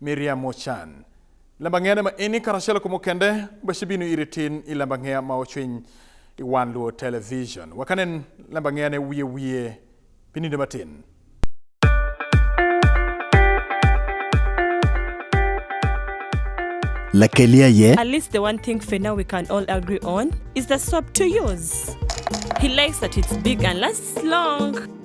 Miriam Ochan. Lembang'ene ma ini karachiel kumo kende bashi binu iri tin i lembang'eya ma ochwiny i wan luo television. Wakanen lembang'ene wiye wiye pininde matin. Lakelia ye. At least the one thing for now we can all agree on is the swap to use. He likes that it's big and lasts long.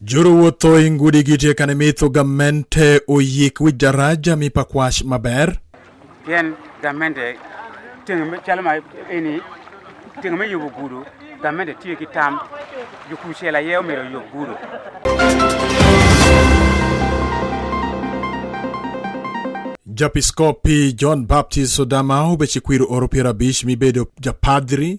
Juru wuotho i ngudi gi tie kane mitho gamente oyik wi daraja mi pakwash maber. Yen gamente ting chalo ma ini ting me yubo gudu gamente tiyo ki tam jukushela ye omiro yub gudu. Japiskopi John Baptist Odama obechikwiro oro piero abich mibedo japadri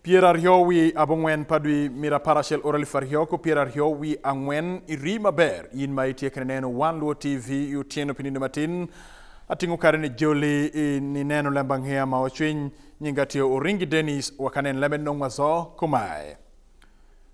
Piero ariyo wi abong'wen pa dwi mira apar achiel oro elfu ariyo ko piero ariyo wi ang'wen iri maber in ma itiekre neno wan luo tv otieno pininde matin ating'o kare ni joli i- ni neno lemba ng'eya ma ochwiny nyinga tiyo oringi denis wakanen lemed nong'wazo kumae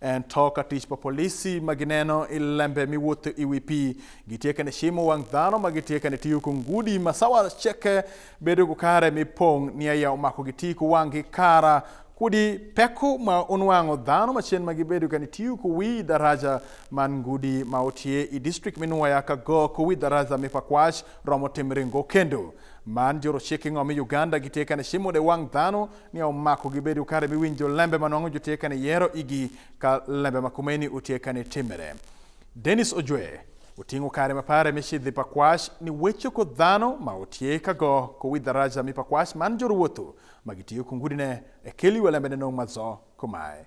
En to ka tich pa polisi ma gineno i lembe miwuotho i wi pii gitieke ni cimo wang dhano ma gitieke ni tiyo ku ngudi ma sawa ceke bedo ku kare mi pong ni aya omako gitii ku wangi kara kudi peko ma unwango dhano macen ma gibedo ka nitiyo ku wi daraja man ngudi ma otye i district mi nwoya ka go ku wi daraja mi pakwac romo timre ngo kendo man joro cik ingo mi uganda gitye ka ni cimo de wang dhano ni omako gibedo kare miwinjo lembe manwang'o jotie kane yero igi ka lembe makumeni otie kane timere denis ojwe oting'o kare mapare michidhi pakwash ni wecho ko dhano ma otie kago kowi dharaja mi pakwash man joruwotho magitiyo kungudine e keli welembene nong' mazo komae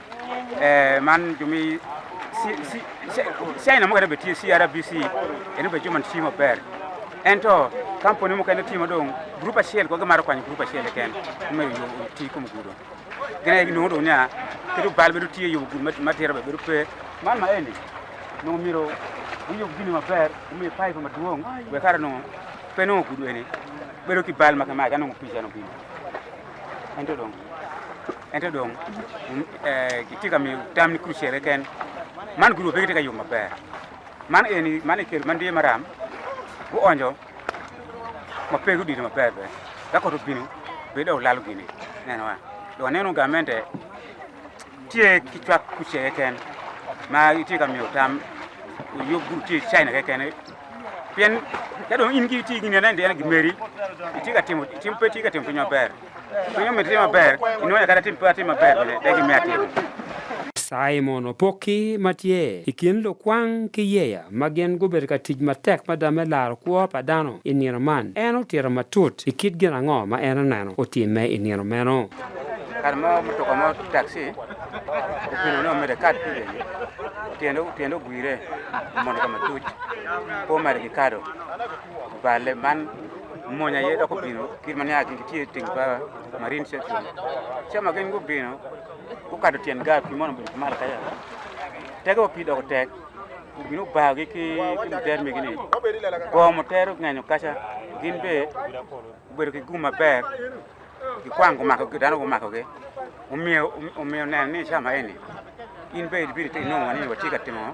man jumi China mokene be tiyo CRBC ene be joma tiyo maber ento kampuni mokene tiyo madong grup achiel kwa gimaro kwanyo grup achiel eken omedo yo ti kuom gudo gine ginongo dong nya kedo bal bedo tiyo yo gudo matero be bedo pe man ma endi nongo miro uyo gini maber ume pipe maduong we kara nongo pe nongo gudo ene bedo ki bal makamae kanongo picha no bino ento dong Ento dong kitye ka miyo tam ni kurucere ken man guruwo pe gitye ka yo maber man eni man ekel man diye maram guonjo ma pe gudito maber be ka koto bino bede olalo gini nenowa dong aneno gamente tye ki cwak kucere ken ma itye ka miyo tam yo guru tye china kekene pien ka dong in ki tye gini anene gimeri itye ka timo pe tye ka timo piny maber Kwenye umetia maber, inaweza kata timu pati maber, deki mia timu. Simon Opoki ma tye i kin lukwang ki yeya ma gin gubedo ka tic matek ma dame laro kwo pa dano i nino man en otito matut i kit gin ango ma en oneno otimme i nino meno kar mo mutoka mo taxi opino no mere kat pide tiende tiende ogwire mondo ka matuc po mere ki kado balle man Monya ye doko bino kit mane a gin tye ting pa marine section. Ca ma gin gubino gukato tyen gar pi mono obedo malo kaya. Tege wa pi doko tek obino obayogi ki ki muter megi ni go muter ongenyo kaca gin be obedo ki gum maber gikwang gumakogi dano gumakogi omiyo omiyo neno ni ca ma eni in be ibino ti nongo ni watye ka timo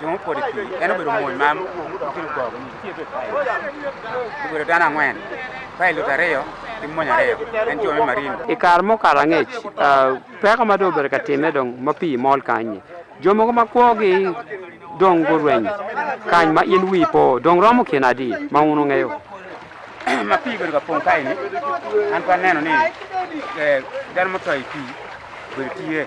Joma opod e pi en obedo mony ma mokelo gogo nitie be kae. Obedo dano ang'wen, pilot ariyo gi mony ariyo en jo me marine. I kare mokalo angec ah, peko ma dong obedo ka timme dong ma pii mol kany-nyi jo mogo ma kwogi dong gurweny kany ma in wii po dong romo kine adi ma un ungeyo ma pi obedo ka pong kae ni an pa neno ni eh, dano motho e pi obedo tye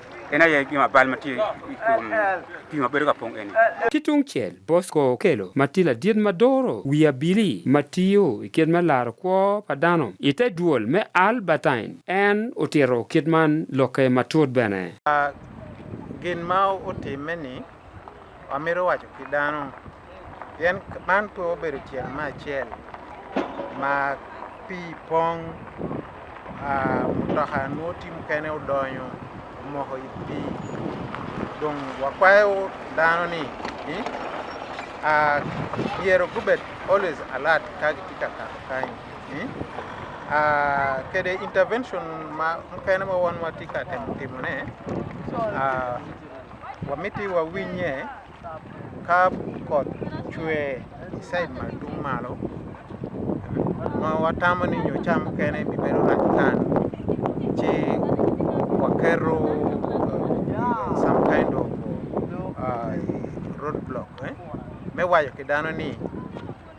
En aye gima bal matie kuom pi ma bedo ka pong' eni. Ki tungcel, Bosco okelo ma tye ladit ma doro wi abili ma tiyo i kit me laro kwo pa dano. I te dwol me Albertine, en otito kit man lokke matut bene. Gin ma otimme-ni. Wamito waco ki dano pien man pe obedo tyel me acel ma pii pong ah, mutoka nwo ti mukene odonyo omoko i pii dong wakwayo dano ni ni ah, myero gubed always alert ka gitye ka kato kany ni ah, kede intervention ma mukene ma wan watye ka temo timone ah, Wamiti wawinye ka koth chwe isaid madung malo ma watamo ni nyo cham kene bibedo rach tan ci waketo uh, some kind of uh, road block eh? me wayo ki dano ni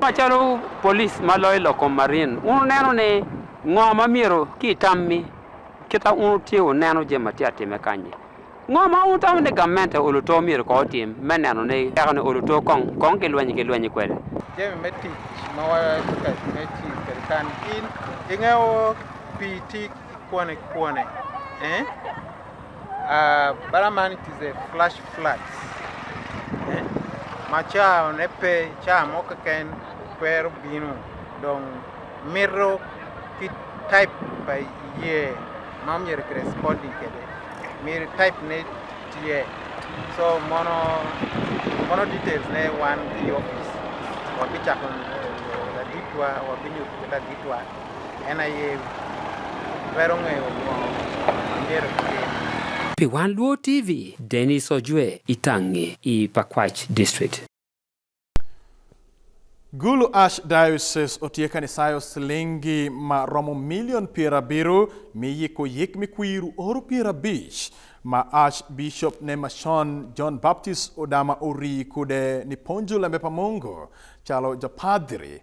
Macalo polis ma loyo lokom marin, un neno ni ngo ma myero ki itammi kita un utye uneno jami ma tye atime kanyi. Ngo ma un tamo ni gamente oluto myero ko otim me neno ni eka ni oluto kong kong ki lwenyi ki lwenyi kwede. Jami me tic ma watye ka me tic kwede kan in ingeyo pii tic kwane kwane eh? Uh, Balaman it is a flash flood. Eh? Macha nepe cha moka ken kwero binu dong mirro kit type by ye mam yer corresponding kede mir type ne tie so mono mono details ne one the office wabichakon la ditwa wabinyo la ditwa En ayewi. Wero ng'eyo wuono. Angero kutini. Pi Wan Luo TV, Dennis Ojue, Itang'e, i Pakwach District. Gulu Ash Diocese otiye kanisayo silingi ma romo milion piero abiriyo miyiko yik mikwiru oro piero abich ma Ash Bishop ne machon John Baptist Odama Ori kude ni ponjo lembe pa Mungu chalo japadhiri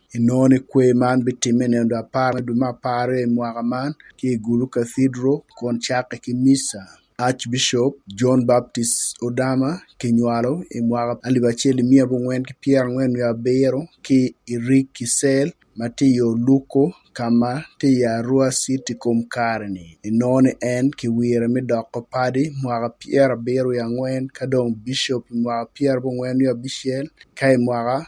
inoni kwe man bitimme neno dwe apar me dwe me apar i mwaka man ki i Gulu Cathedral kun cakke ki misa. Archbishop John Baptist Odama kinywalo i mwaka alip acel i miya abongwen ki pyera angwen wiye abiro ki i Rik Kisel ma tye i Oluko ka ma tye i Arua City kom kare-ni. Inoni en kiwire me doko padi mwaka pyera abiro wiye angwen ka dong bishop i mwaka pyera abongwen wiye abicel ka i mwaka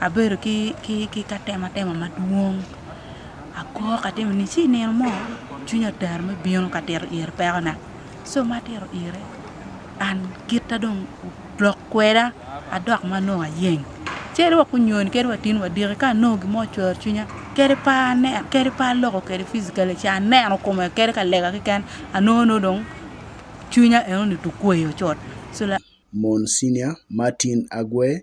Abedo ki ki ki ka tema tema madwong. Akor ka timo ni ci nino mo cwinya oter me bino ka tito ir pekona. So ma atito ire an kita dong lok kweda adok ma nongo ayeng. Cere wa kunyoni kere wa tin wa diki ka nongo gimo cwer cwinya kere pa ne kere pa loko kere physically ci aneno kome kere ka lega kiken anongo no dong cwinya eno ni tukweyo cot. So la Monsignor Martin Agwe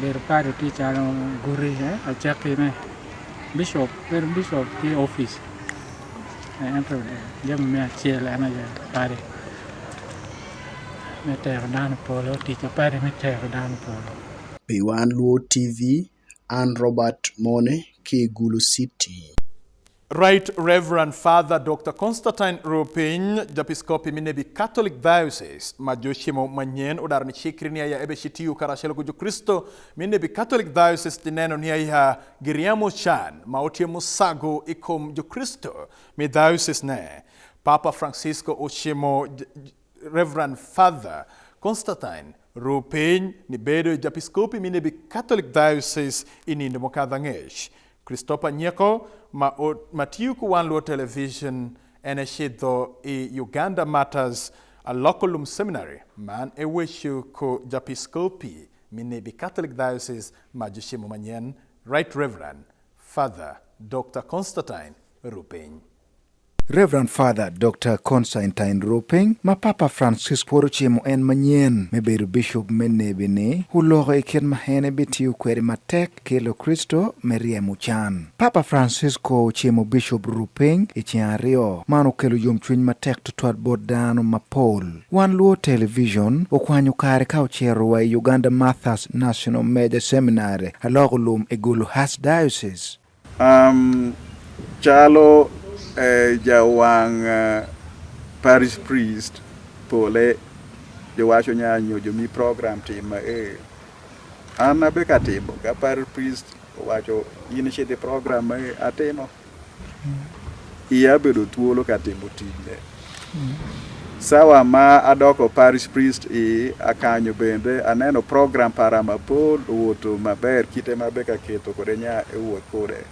bedo padi tye calo guti acakki me bishop bedo bishop ki ofice ento jami me acel en aye padi me tero dano polo tic padi me tero dano polo Pi wan Luo TV, an Robert Mone ki i Gulu City. Right Reverend Father Dr. Constantine Rupiny, Japiskopi Minebi Catholic Diocese, ma jochiemo manyien odar ni chikri ni aya ebe chitiyu karachiel gi Jokristo Minebi Catholic Diocese tineno ni aya giriamo chan ma otiemo sago ikom Jokristo mi diocese ne. Papa Francisco ochiemo Reverend Father Constantine Rupiny ni bedo e japiskopi minebi Catholic Diocese inindo mokadho ang'ech. Christopher Nyeko ma, o, ma tiyo kuwan luo television en e shidho i Uganda Martyrs a Loculum Seminary man e wecho ko japiskopi minebi Catholic Diocese ma jochiemo manyen Right Reverend Father Dr. Constantine Rupiny. Reverend Father Dr. Constantine Roping ma Papa Francis pwod ocimo en manyen me bedo bishop me nebi ni oloko i kit ma en ebitiyo kwede matek ki Lukricito me ryemo can. Papa Francisco ocimo Bishop Roping i ceng aryo. Man okelo yomcwiny matek tutwal bot dano mapol. Wan luwo television okwanyo kare ka ocito wa i Uganda Martha's National Major Seminary aloko lum i Gulu Archdiocese. Um, chalo eh, jawang' uh, parish priest pole jowacho nyanyo jomi program tim eh. an abe katimo ka parish priest owacho in shidi program eh, atimo iya bedo thuolo katimo tijne Sawa ma adoko parish priest i akanyo bende aneno program para mapol owuoto maber kite mabe ka keto kode nya e wuoth kode.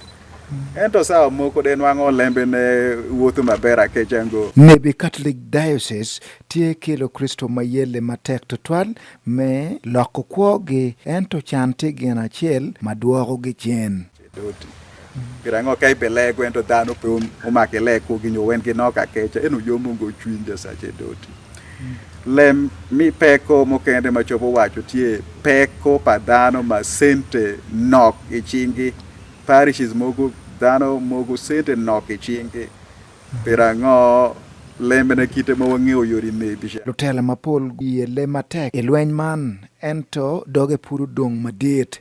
Ento sawa moko de nwang'o olembe ne wuotho maber akechango. Nebe Catholic Diocese tye kelo Kristo ma yelle matek tutwal me loko kwogi ento can tye gin acel ma dwokogi cen. Doti. Pira ngo ka ibele gwento dano pe um, umake le ku gi nyowen gi noka kecha enu yo mungo chwinja sache doti. Lem mi peko mokende ma chopo wacho tie peko pa dano ma sente nok i chingi parishes mogo dano mogo sente nok i chingi pira ngo lembe na kite ma wang'eyo yori ne bisha. Lutela mapol yele matek i lweny man ento doge puro dong madit.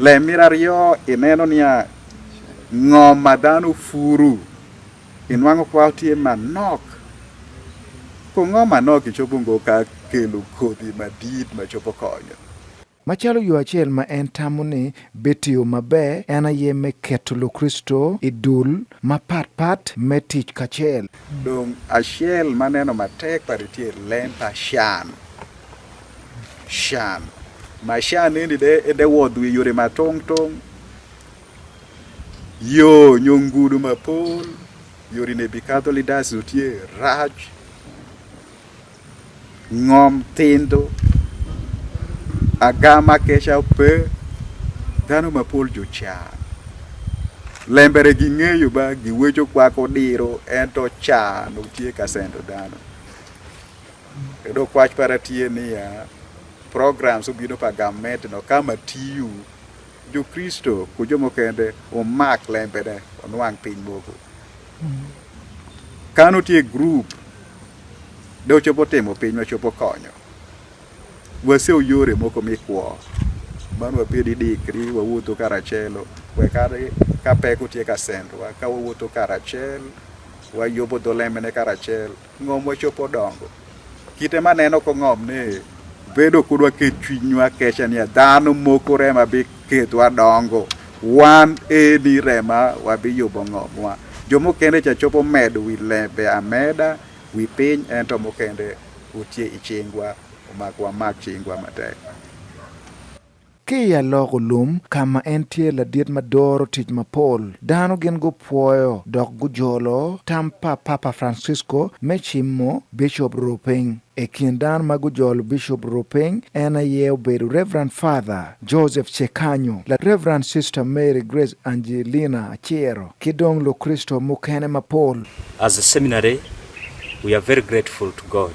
Lemir ariyo ineno niya ngo ma dhano furu inwango kwa otie manok kongo manok ichopo ngo ka kelo kodhi madit machopo konyo Macalo yo acel ma en tamo ni bitiyo maber en aye me keto Lukristo i dul mapat pat me tic kacel. Dong acel maneno matek pari tye lem pa can. shan ma shan endi de e de wodhu e yore ma tong tong yo nyongudu ma pol yori ne bi kadho lidas otie rach ngom tindo agama kecha pe dhano ma pol jo chan lembere gi ng'eyo ba gi wecho kwako diro ento chan otie kasendo dhano Yudo kwach para tie niya, programs obino pa gamet no kama tiyu jokristo ku jomo kende omak lembene onwang' piny moko kano tie group de ochopo timo piny wachopo konyo wase oyore moko mikwo mano wapedi dikri wawuotho karachelo wekare ka pek otie ka sendwa ka wawuotho karachel wayobo dho lembene karachel Ng'om wachopo dongo. Kite ma neno ko ng'om ni bedo kudwa ke chunywa kecha ni dhano moko rema bi ketwa dongo. Wan eni rema wabi yubo ng'omwa. Jomo kende cha chopo med wi lembe ameda wi piny ento mokende utie ichingwa omakwa mak chingwa matek. Ki i aloko lum ka ma en tye ladit ma doro tic mapol, dano gin gupwoyo dok gujolo tam pa Papa Francisco me cimo Bicop Roo piny. I kin dano ma gujolo Bicop Roo piny, en aye obedo Reverend Father Joseph Cecanho, la Reverend Sister Mary Grace Angelina Acero, ki dong Lukricito mukene mapol. As a seminary, we are very grateful to God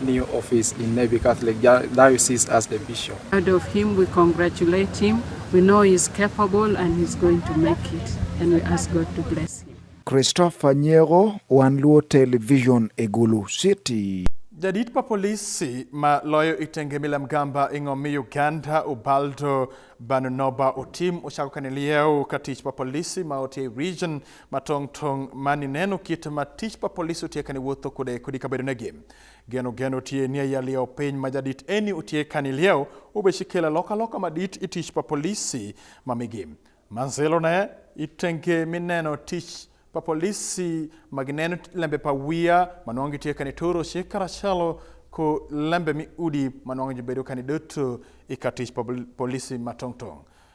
new office in Navy Catholic Diocese as the bishop. Proud of him, we congratulate him. We know he's capable and he's going to make it and we ask God to bless him. Christopher Nyego, One Luo Television, Egulu City. Jadit pa polisi ma loyo itenge mila mgamba ing'omi Uganda Ubaldo Banunoba Otim ochako kane lieu ka tich pa polisi ma otie region matong tong mani neno kit ma tich pa polis otie kani wuotho kude kudi kabedo ne gim geno geno otie ni ya lieo piny ma jadit eni otie kani lieo ube shikela loka loka ma dit itich pa polisi ma migim manzelo ne itenge mi neno tich pa polisi ma gineno lembe pa wiya ma nongi tie kani toro shikara shalo ko lembe mi udi ma nongi jibedo kani doto ikatich pa polisi matong tong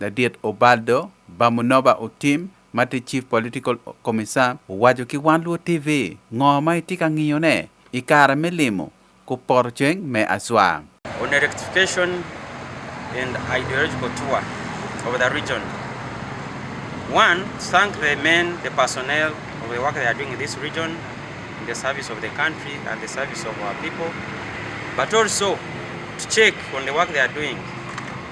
Ladit Ubaldo Bamunoba Otim ma tye Chief Political Commissar owaco ki One Luo TV ngo ma itye ka ngiyo ne i kare me limo ku poto ceng me Aswa. on a rectification and ideological tour of the region. One, thank the men, the personnel of the work they are doing in this region, in the service of the country and the service of our people, but also to check on the work they are doing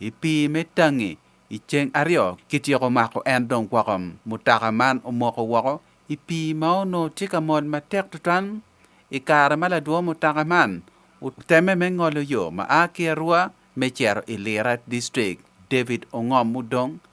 I pii me tangi, i ceng aryo kityeko mako en dong woko. Mutoka man omoko woko i pii ma onongo tye ka mol matek tutwal. I kare ma ladwo mutoka man otemme me ngolo yo ma a ki Arua me cito i Lira District, David Ongom mudong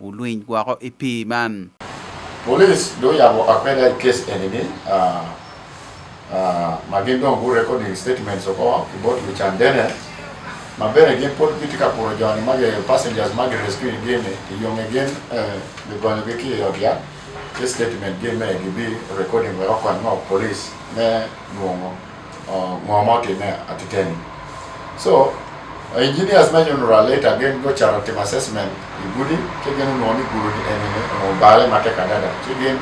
ulwiny woko i pii man. Polis dong oyabo akweda i kes eni-ni ah, ah, ma gin dong gu recording statements oko ki bot lucan dene ma bene gin pud gitye ka kuro joni ma gi passengers ma gi rescue gin i yonge gin eh, gigonyogi ki i ot yat ki statement gin me gibi recording wek okony ngo polis me nongo Uh, Muhammad Ine at Iteni. So, uh, engineers may you know later again go charity assessment. Ibudi, kegen no ni guru ni ene ne no bale mate kadada. Kegen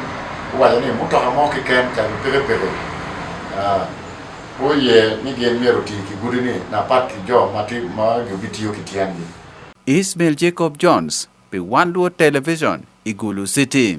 wale ni muto hamo ki ken kan pere pere. Uh, oye ni gen mero ti ki guru ni na pat ki jo mati ma gubitiyo ki tiangi. Ismail Jacob Jones, Piwanduo Television, Igulu City.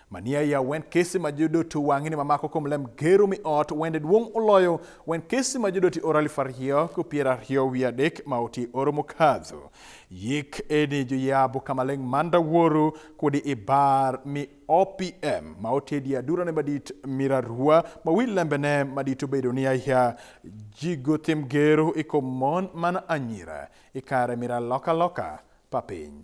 Mania ya wen kesi ma jodoti wang'ini mamako kom lem gero mi ot wende duong' uloyo wen kesi ma jodoti oro alif ariyo ku piero ariyo wi adek ma oti oro mokadho. Yik eni joyabu kamaleng' manda woru kudi ibar mi OPM ma otedi adurane madit mirarua ma wi lembene madit obedo ni aya jigo tim gero ikom mon mana anyira ikare mira loka loka pa piny.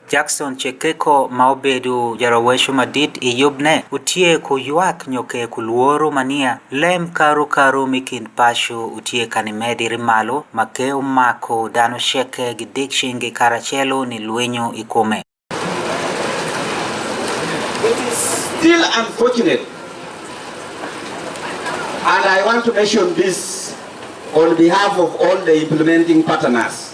Jackson Chekeko ma obedo jarawecho madit i yubne utye ku ywak nyo ke ku lworo ma niya, lem karu karu mi kin paco utye ka ni mediri malo ma ke omako dano ceke gi dik cingi karacelo ni lwinyo i kome. It is still unfortunate and I want to mention this on behalf of all the implementing partners.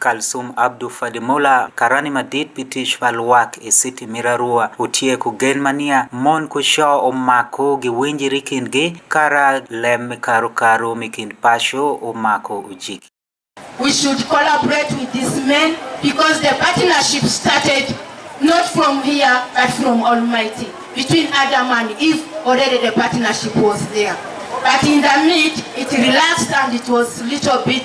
Kalsum Abdu Fadimula karani madit pi tic pa lwak i citi mito arua otyeko gen ma niya mon ku co omako giwinjiri i kingi kara lem me karukaru me kin paco omako ojiki. We should collaborate with this man because the partnership started not from here but from Almighty. Between Adam and Eve, already the partnership was there. But in the mid, it relaxed and it was little bit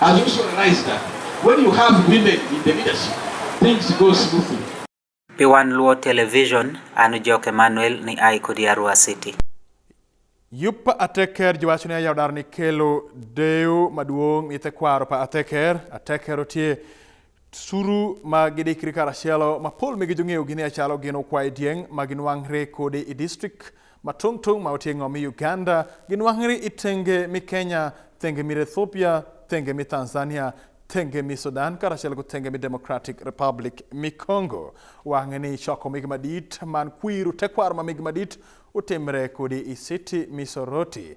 As you also realize that when you have women in the leadership, things go smoothly. Piwan Luo Television, an Jok Emmanuel ni ai kodi Arua City. Yup pa ateker jiwacho ni ayao dar ni kelo deu maduong' ite kwaro pa ateker, ateker otie Suru ma gidikri karachielo ma pol migi jong'eyo gini achalo gin okwaye dieng' ma ginwang're kode i district ma tong' tong' ma oting'o mi Uganda, ginwang're i tenge mi Kenya, tenge mi Ethiopia, tenge mi Tanzania, tenge mi Sudan karachiel gi tenge mi Democratic Republic mi Congo. Wang'e ni choko migi madit man kwiru tekwaro ma migi madit otimre kodi i city mi Soroti.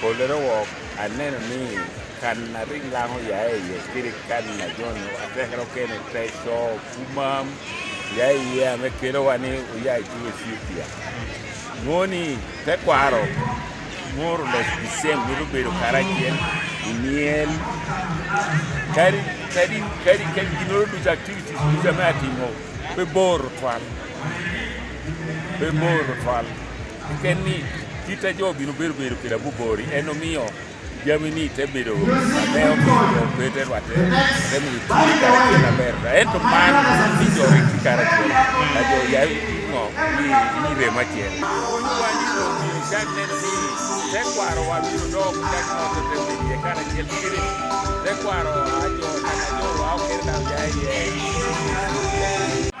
Polere wok aneno ni kan na ring lang oya e iye kiri kan na jon atekero kene teso kumam ya e iye ame kelo wani oya e chuo Ethiopia. Ng'oni tekwaro more or less the same nyalo bedo karachiel imiel kari kari kari kari ginoro duto activities duto ma atimo be bor twal be bor twal Ken ni kita jo bino bedo bedo kira bubori eno miyo jami ni te bedo ne omiyo bete rwate te mi na ber da ento man ni jo ri kara jo na jo ya no ni ni re ma chen ni wa ni no mi ja ne ni te kwaro wa ni do ku ja no te te ni ye kara chen kiri te kwaro a jo na jo wa o kira da ya ye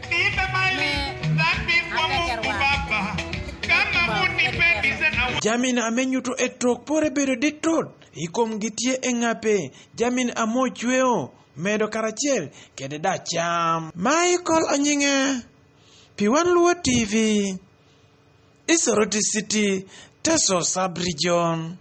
Jamin amenyuto e tok pore bedo ditot ikom gi tie e ng'ape jamin amo chweo medo karachiel kede da cham Michael Onyinga Piwan Luo TV Isoroti City Teso Sub Region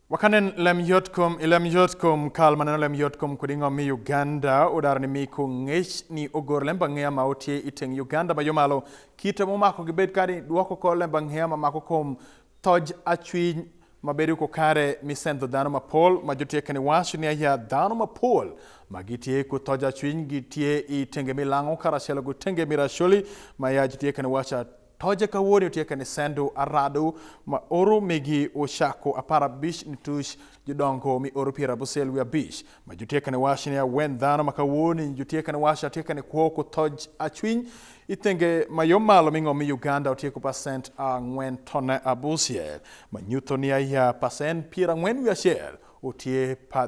Wakanen lem yotkom ilem yotkom kal maneno lem yotkom kudingo mi Uganda odar ni miko ngech ni ogor lemba ng'eya ma otie iteng Uganda ma yomalo kite momako gi bed kadi duoko ko lemba ng'eya ma mako kom toj achwiny ma bedo ko kare mi sendo dano ma pol ma jotie kani wacho ni aya dano ma pol ma gitie ko toj achwiny gitie itenge milango karachelo gutenge mirasholi ma ya jotie kani wacho Toje kawuono otie kanisendo arado ma oro migi ochako apar abich nitush jodongo mi oro piero abusel wi abich ma jotie kane wash ne awen dhano ma kawuono jotie kane wash atie kane kuoko toj achwiny ithenge ma yo malo ming'o mi Uganda otieko pasent ang'wen tone abusiel ma nyutho ni aya pasent piero ang'wen wi achiel otie pa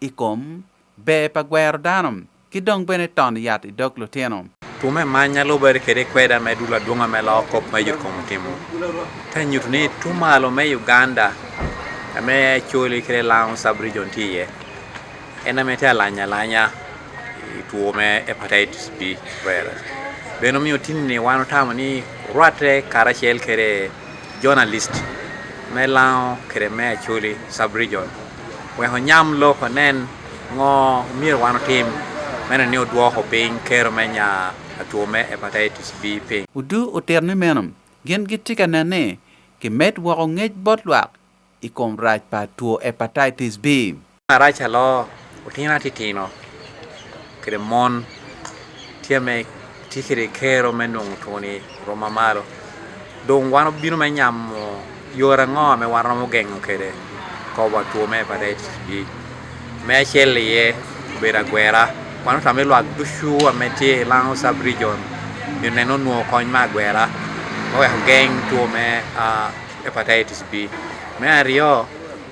i kom ber pa gwero dano ki dong bene tono yat i dog lutino. Two me manya loo bedo kede i kweda me dulo adwonga me loo kop ma yot kom timo. Te nyutu ni two malo me Uganda me Acholi kede Lango sub region tye iye. En ame te alanya alanya i two me hepatitis B virus. Bene omiyo tini ni wan otamo ni rwate karacel kede journalist me Lango kede me Acholi sub region. Wek onyam lok onen ngo myero wan otim meno ni odwoko piny kero me nya atwo me hepatitis B piny. Udu otito ni meno gin gitye ka nen ni gimed woko ngec bot lwak i kom rac pa two hepatitis B. Arac alo otinga titino. kede mon tye me tye kede kero me nongo twoni rom mamalo dong wan obino me nyamo yore ango me wan romo gengo kede kobo two me hepatitis B me acel iye obedo agwera wan otame lwak ducu wa me tye i Lango sub region nyo neno nwo kony me agwera me weko geng two me hepatitis B me aryo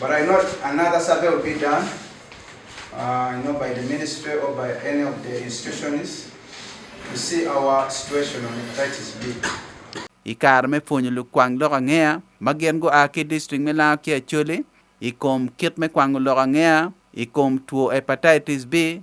But I know another survey will be done, uh, you know, by the ministry or by any of the institutions to see our situation on hepatitis B. I kare me pwonyo lukwang lok angea ma gin gua ki district me Lango ki Acholi i kom kit me kwango lok angea i kom two hepatitis B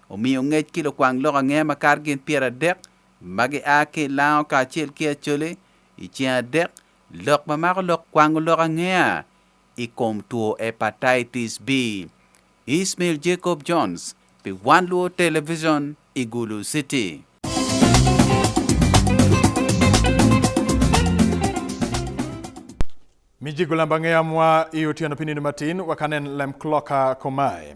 Omiyo ngec ki lukwang lok ange makato gin pyeradek ma gia ki i lango kacel ki Acholi i ceng adek lok ma mako lok kwango lok angea i kom two Hepatitis B. Ismail Jacob Jones pi One Luo Television i Gulu City. Mijigu lamba ngeyamwa i otyeno pi nino matin wakanen lem kloka komae.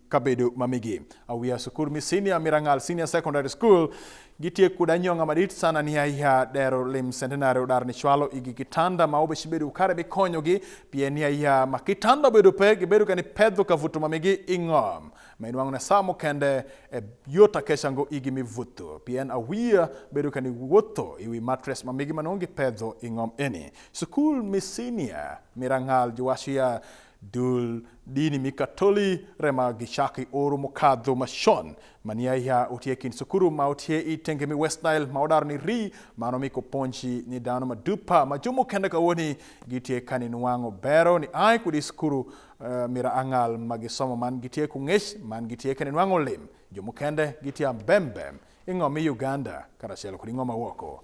kabedo ma migi awiya sukul mi senior mirangal senior secondary school gitie kuda nyonga madit sana ni aiha dero lim centenary udar ni chwalo igi kitanda ma obe shibedo ukare bi konyo gi pie ni aiha ma kitanda bedo pe gibedo kani pedho ka vuto mamigi ingom ma inwango na samo kende e yota keshango igi mi vuto pien awiya bedo kani wuotho iwi mattress mamigi manongi pedho ingom eni sukul mi senior mirangal juwashiya Dul dini mi Katoli rema gichaki oro mokadho machon mani aiha otie kind sukuru ma otie i tenge mi West Nile ma odaro ni ri mano mi koponji ni dano ma dupa ma jomo kenda kawoni gitie kani nwango bero ni ai kudi sukuru uh, mira angal ma gisomo man gitie kungech man gitie kani nwango lim jomo kende gitie ambembem ing'o mi Uganda karachiel kod ing'o ma woko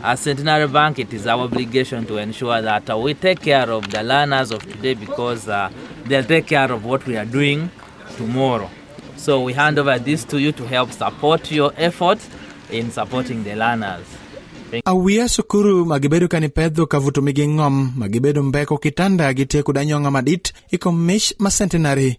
As Centenary Bank, it is our obligation to ensure that uh, we take care of the learners of today because uh, they'll take care of what we are doing tomorrow. So we hand over this to you to help support your efforts in supporting the learners. Awiya sukuru ma gibedo ka ni pedho ka vuto mi ging'om ma gibedo mbeko kitanda gi teku danyong'a madit iko mich ma centenary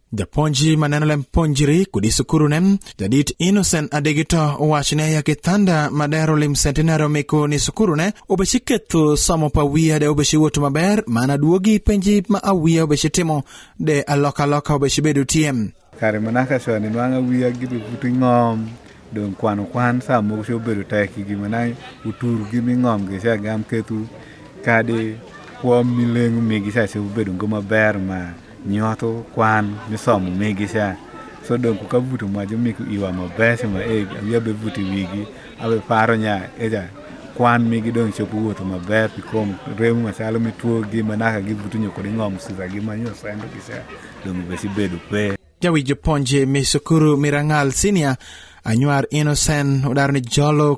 Japonji ma neno lem ponjiri kudi sukuru ne jadit Innocent Adegito owacho ne yake thanda ma dero lim centenary omiko ni sukuru ne obeshi ketho somo pa wiya de obeshi wuoto maber mana duogi penji ma awiya obeshi timo de aloka aloka obeshi bedo tiem. Kare manaka soni nwanga wiya gibi buti ngom dong kwano kwan sa mogo cho bedo tek gi mana uturu gi mi ngom gi cha gam kethu kadi kwom milengu migi cha cho bedo ngoma ber ma Nyuato kwan misomo migi sha. So dong ku kavuto ma jo miku iwa ma bese ma e awi abe vuti wigi abe paro nya eja kwan migi dong chopo wuoto ma ber pikom remu ma chalo mi tuo gi ma naka gi vuto nyoko di ngom sisa gi ma nyo sendo gi sha dong be si bedo pe. Jawi jo ponje mi sukuru mirangal senior anyuar innocent udar ni jolo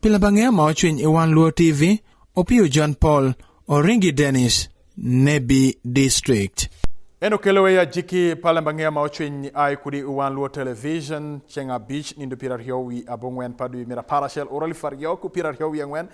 Pile bang' ea ma ochwiny i wan Luo TV, Opiyo John Paul, Oringi Dennis, Nebi District. Eno kelowe ya jiki pale mbang'eya ma ochwiny ai kudi i wan Luo Television, ceng abich nindo piero ariyo wi abong'wen pa dwe mira par achiel ura elfu ariyo ku piero ariyo wi ang'wen.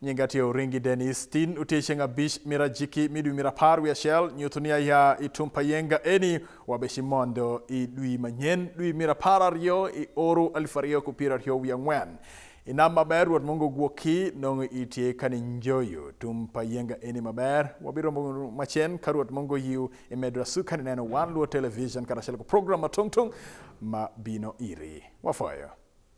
Nyinga tye Oringi Dennis, tin utye ceng abich mira jiki midwi mira par wi achiel, nyutu ni aya itum pa yenga eni Wabeshi mondo i dwi manyen, dwi mir apar ariyo, i oru alif ariyo ku piero ariyo wi ang'wen. Inam maber Ruoth Mungu gwokki nong'o itie kani njoyo tum pa yenga eni maber. Wabiro romo macen ka Ruoth Mungu yiu imedo asu kani neno wan luo television kata achiel ku program ma tung tung ma bino iri. Wafoyo.